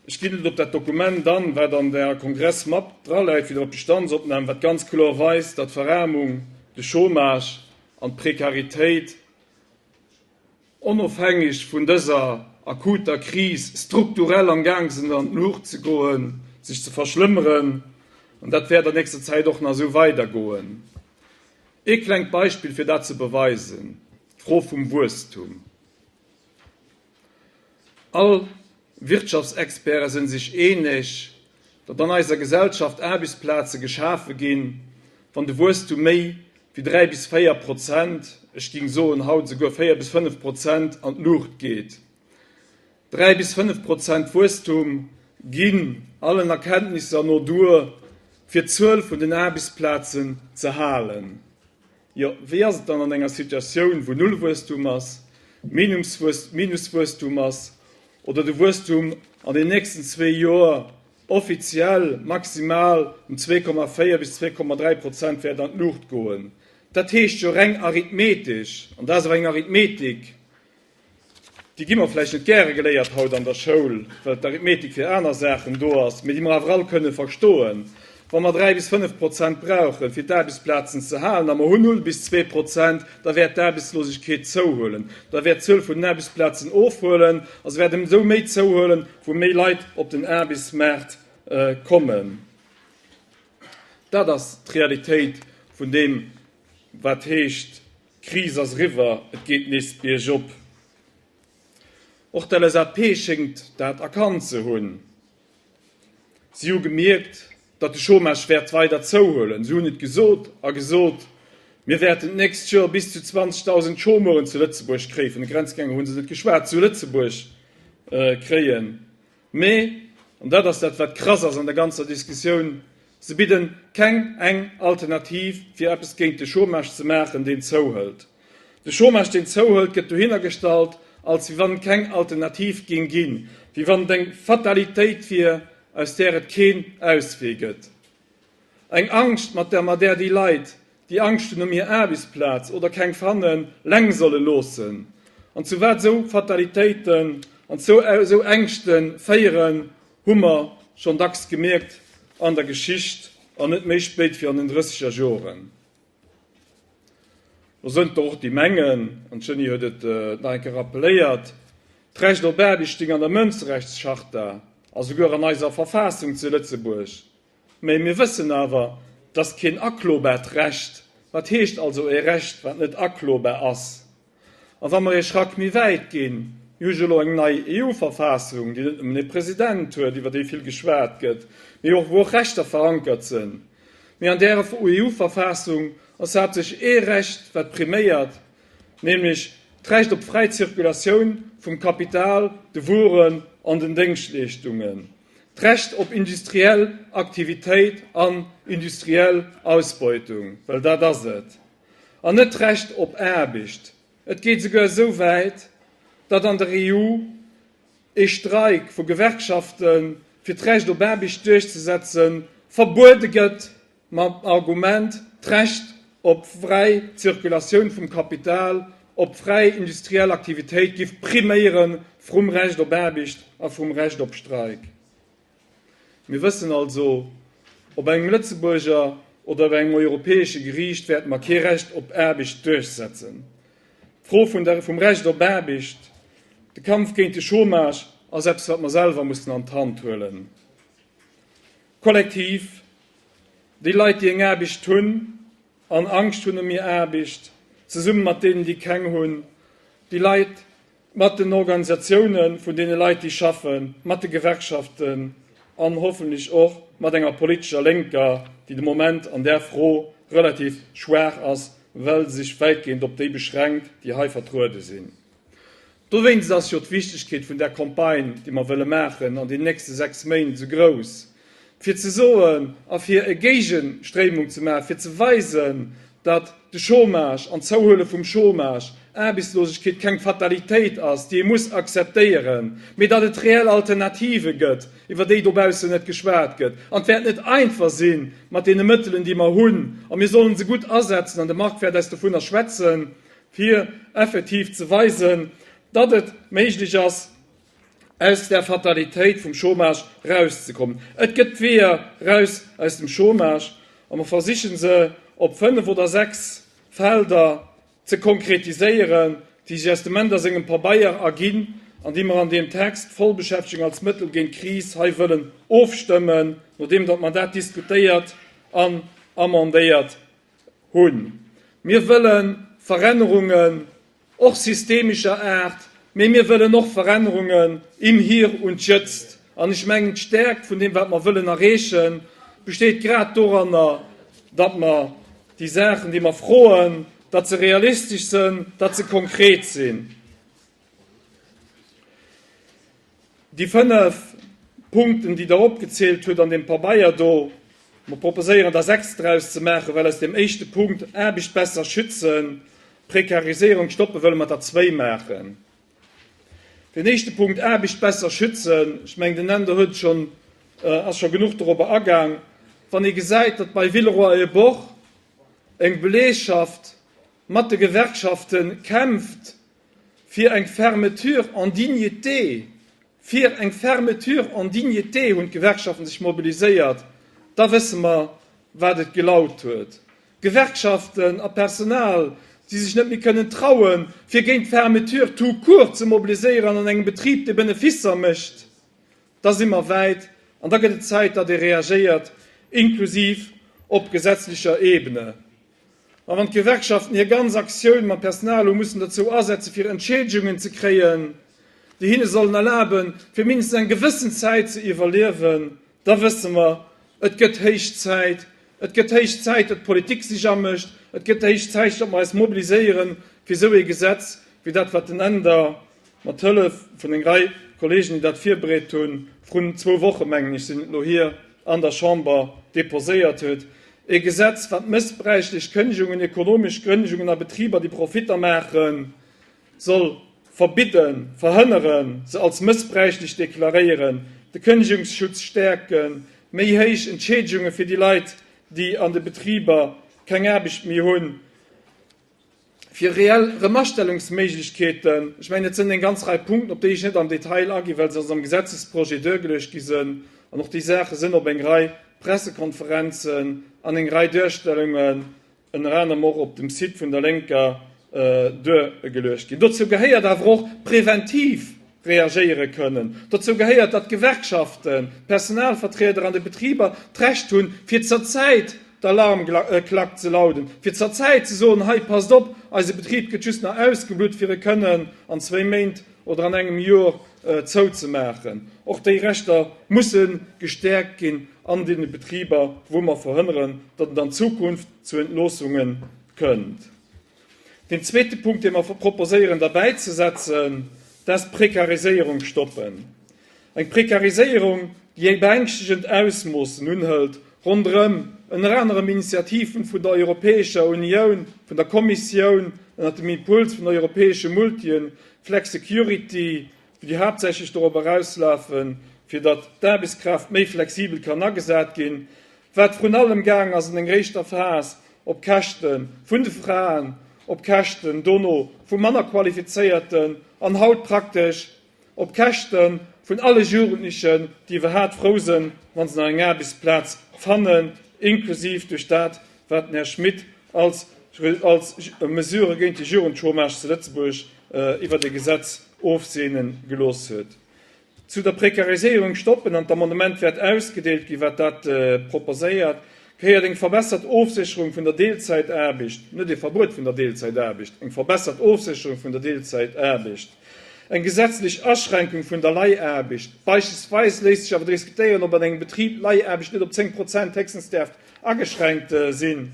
Ech ginn et op dat Dokument an, wat an der Kongressmap draläit, fir op d'Bestandsopnam, wat ganz kloer weist, datt d'Veraarmung, de Chômage an d'Prekaritéit onofhängeg vun dëser akuter Kris strukturell am Gaang sinn an d'Luucht ze goen, sech ze verschlëmmeren. An dat wäert an nächster Zäit och nach esou weidergoen. Ee klengt Beispill, fir dat ze beweisen, d'Fro vum Wuesstum. All Wirtschaftsexperte sinn sech eeneg, datt an eiser Gesellschaft Aarbechtsplaze geschafe ginn, wann de Wuesstum méi wéi 3 bis 4 Prozent, ech géing soen haut esouguer 4 bis 5 Prozent, an d'Luucht geet. 3 bis 5 Prozent Wuesstum ginn allen Erkenntnisser no duer, fir d'Zuel vun den Aarbechtsplazen ze halen. Jo, wéi ass et dann an enger Situatioun, wou Nullwuesstum ass, Minuswuesstum ass oder de Wuesstum an den nächsten zwee Joer offiziell maximal ëm zwee Komma véier bis zwee Komma dräi Prozent wäert an d'Luucht goen? Dat heescht jo reng arithmetesch, an dat ass och eng Arithmetik, Déi gi mer vläicht net gäre geléiert haut an der Schoul, well d'Arithmetik fir aner Saachen do ass, mee déi mer awer all kënne verstoen. Wa mer dräi bis fënnf Prozent brauchen, fir d'Aarbechtsplazen ze halen, a mer hunn null bis zwee Prozent, da wäert d'Aarbechtslosegkeet zouhuelen, da wäert d'Zuel vun den Aarbechtsplazen ofhuelen a se wäert ëmsou méi zouhuelen, wou méi Leit op den Aarbechtsmaart kommen. Dat ass d'Realitéit vun deem, wat heescht, D'Kris ass eriwwer, et geet nees biergop. Och d'LSAP schéngt dat erkannt ze hunn. Si hu gemierkt, datt de Chômage wäert weider zouhuelen. Si hunn et gesot a gesot, Mir wäerten d'nächst Joer bis zu 20.000 Chômeuren zu Lëtzebuerg kréie, vun de Grenzgänger hu se net geschwat, zu Lëtzebuerg kréien. Mee, an dat ass dat wat krass ass an der ganzer Diskussioun, se bidden keng eng Alternativ fir eppes géint de Chômage ze maachen deen zouhëlt. De Chômage deen zouhëlt gëtt dohinner gestallt als wéi wann keng Alternativ géing ginn, wéi wann et eng Fatalitéit wier aus där et keen Auswee gëtt. Eng Angscht mat der mer där déi Leit, déi Angscht hunn ëm hir Aarbechtsplaz oder keng fannen, leng solle loossen an zu wat esou Fatalitéiten an zu esou Ängschte féieren, hu mer schonn dacks gemierkt an der Geschicht an net méi spéit wéi an den Drësseger Joren. Do sënn et der och, déi mengen, an d'Jeanny huet et nach eng Kéier rappeléiert, d'Recht op Aarbecht stéing an der Mënscherechtscharta a souguer an eiser Verfassung zu Lëtzebuerg. Mä mir wëssen awer, et ass keen aklobaart Recht. Wat heescht also e Recht, wat net aklobar ass? A wa mer ee Schrack méi wäit ginn, Mir hu jo elo eng nei EU-Verfassung, déi net nëmmen ee President huet, iwwer dee vill geschwat gëtt, mee och, wou och Rechter verankert sinn. Mee an där EU-Verfassung ass haaptsächlech ee Recht, wat priméiert, nämlech d'Recht op fräi Zirkulatioun vum Kapital, de Wueren an den Déngschtleeschtungen, d'Recht op industriell Aktivitéit an industriell Ausbeutung, well dat ass et. an net d'Recht op Aarbecht. Et geet esouguer esou wäit, datt an der EU ee Streik vu Gewerkschafte fir d'Recht op Aarbecht duerchzesetze verbuede gëtt, mam Argument, d'Recht op fräi Zirkulatioun vum Kapital, op fräi industriell Aktivitéit giff priméiere vrum Recht op Aarbecht a vrum Recht op Streik. Mir wëssen also, Op engem Lëtzebuurger oder op engem europäesche Geriicht wäerte mer kee Recht op Aarbecht duerchsetzen. D'Fro vun der, vum Recht op Aarbecht, de Kampf géint de Chômage ass eppes, wat mer selwer mussen an d'Hand huelen, kollektiv. Déi Leit, déi eng Aarbecht hunn an Angscht hunn ëm hir Aarbecht, zesummen mat deenen, déi keng hunn, déi Leit, mat den Organisatioune vun deene Leit, déi schaffen, mat de Gewerkschaften an hoffentlech och mat enger politescher Lénker, déi de Moment an där Fro relativ schwaach ass, well se sech wäitgehend op déi beschränkt, déi hei vertruede sinn. Dowéinst ass jo d'Wichtegkeet vun där Campagne, déi mer wëlle maachen an den nächste sechs Méint, esou grouss. fir ze soen a fir e Géigestréimung ze maachen, fir ze weisen, datt de Chômage an d'Zouhuele vum Chômage, Aarbechtslosegkeet, keng Fatalitéit ass, déi ee muss akzeptéieren, mee datt et reell Alternative gëtt, iwwer déi dobaussen net geschwat gëtt. An et wäert net einfach si mat deene Mëttelen, déi mer hunn, a mir sollen se gutt asetzen, an de Marc wäert eis dovunner schwätzen, fir effektiv ze weisen, datt et méiglech ass, aus der Fatalitéit vum Chômage rauszekommen. Et gëtt Weeër raus aus dem Chômage a mer versichen se op fënnef oder sechs Felder ze konkretiséieren, déi sech aus dem Mender sengem Pabeier erginn an déi mer an deem Text Vollbeschäftegung als Mëttel géint d'Kris hei wëllen ofstëmmen, nodeem datt mer dat diskutéiert an amendéiert hunn. Mir wëlle Verännerungen. och systemescher Aart, mee mir wëllen och Verännerungen im Hier und Jetzt. An ech mengen, d'Stärkt vun deem, wat mer wëllen erreechen, besteet grad doranner, datt mer déi Saachen, déi mer froen, datt se realistesch sinn, datt se konkret sinn. Déi fënnef Punkten, déi Der opgezielt hutt an deem Pabeier do, mer proposéieren der sechs draus ze maachen, well aus deem éischte Punkt, Aarbecht besser schützen, Prekariséierung stoppen, wëlle mer der zwéi maachen. Deen éischte Punkt, Aarbecht besser schützen, ech mengen, den Änder huet scho, ass scho genuch dorobber agaang. Wann ee gesäit, datt bei Villeroy-et-Boch eng Belegschaft mat de Gewerkschafte kämpft, Fir eng Fermeture en dignité! Fir eng Fermeture en dignité hunn d'Gewerkschaften sech mobiliséiert. Da wësse mer, wat et gelaut huet. Gewerkschaften a Personal, déi sech net méi kënnen trauen, fir géint d'Fermeture tout court ze mobiliséieren an engem Betrib, dee Beneficer mécht. Da si mer wäit an da gëtt et Zäit, datt ee reagéiert, inklusiv op gesetzlecher Ebene. A wann d'Gewerkschaften hir ganz Aktioun mam Personal hu mussen dozou asetze fir Entschieedegungen ze kréien, déi hinne sollen erlaben, fir mindestens eng gewëssen Zäit ze iwwerliewen, da wësse mer, et gëtt héich Zäit, et gëtt héich Zäit, datt d'Politik sech amécht, et gëtt héich Zäit, datt mer eis mobiliséieren, fir esou ee Gesetz wéi dat, wat den Änder Mat Hëllef vun eng Rei Kollegen, déi dat virbereet hunn, vrun zwou Woche mengen ech sinn et elo hier, an der Chamber deposéiert huet, e Gesetz, wat mëssbräichlech Kënnegungen, ekonomesch Kënnegungen a Betriber, déi Profitter maachen, soll verbidden, verhënneren, se als mëssbräichlech deklaréieren, de Kënnegungsschutz stäerken, méi héich Entschädigunge fir déi Leit, déi an de Betriber keng Aarbecht méi hunn, Fir reell Remastellungsméiglechkeeten, ech mengen, et sinn eng ganz Rei Punkten, op déi ech net am Detail aginn, well se als am Gesetzesprojet duergeluecht gi sinn, an och déi Saache sinn op eng Rei Pressekonferenzen an eng Rei Duerstellungen, ënner anerem och op dem Site vun der Lénker, duergeluecht ginn. Dozou gehéiert awer och preventiv, reagéiere kënnen. Dozou gehéiert, datt d'Gewerkschaften, d'Personalvertrieder an de Betriber d'Recht hunn, fir zur Zäit d'Alarmklack ze lauden, fir zur Zäit ze soen, Hei, passt op, eise Betrib gëtt just nach ausgeblutt, fir e kënnen an zwéi Méint oder an engem Jor zouzemaachen. Och déi Rechter musse gestäerkt ginn an deene Betriber, wou mer verhënneren, datt et an Zukunft zu Entloossungen kënnt. Den zweete Punkt, dee mer proposéieren derbäizesetzen, dass d'Prekariséierung stoppen. Eng Prekariséierung, déi eng beängschtegend Ausmoossen unhëlt, ronderëm ënner anerem Initiativen vun der Europäescher Unioun, vun der Kommissioun, ënnert dem Impuls vun europäesche Multien, Flexicurity, déi haaptsächlech dorop erauslafen, fir datt d'Aarbechtskraaft méi flexibel kann agesat ginn, wat vrun allem gaang ass an enger éischter Phas op Käschte vun de Fraen, op Käschten dono vu manner Qualifizéierten an haut praktesch op Käschte vun alle Jugendlechen, déi iwwerhaat frou sinn, wa se nach eng Aarbechtsplaz fannen, inklusiv duerch dat, Wat den Här Schmit als als Mesure géint de Jugendchômage zu Lëtzebuerg iwwert e Gesetz ofseene gelooss huet. Zu der Prekariséierung stoppen an d'Amendement wäert ausgedeelt ginn, wat dat proposéiert, gehéiert eng verbessert Ofsécherung vun der Deelzäitaarbecht, net e Verbuet vun der Deelzäitaarbecht, eng verbessert Ofsécherung vun der Deelzäitaarbecht, eng gesetzlech Aschränkung vun der Leihaarbecht. Beispillsweis léisst sech awer diskutéieren, ob an engem Betrib Leihaarbecht net op 10 Prozent héchstens däerf ageschränkt sinn,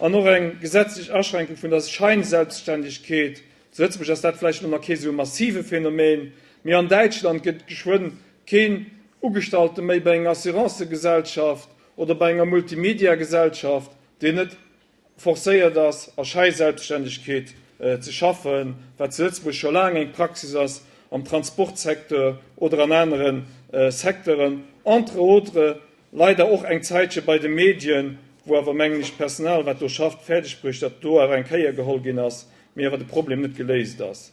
an och eng gesetzlech Aschränkung vun der Scheinselbstständigkeet, zu Lëtzebuerg ass dat vläicht nach kee sou massive Phänomen, mee an Däitschland gëtt geschwënn keen Ugestallte méi bei enger Assurancegesellschaft oder bei enger Multimediagesellschaft, deen net forcéiert ass a Schäi-Selbststännegkeet ze schaffen, wat zu Lëtzebuerg scho laang eng Praxis ass am Transportsecteur oder an anere Secteuren, entre autres leider och eng Zäitche bei de Medien, wou awer, mengen ech, d'Personal, wat do schafft, fäerdegbruecht huet, datt elo awer eng Kéier geholl ginn ass, mee awer de Problem net geléist ass.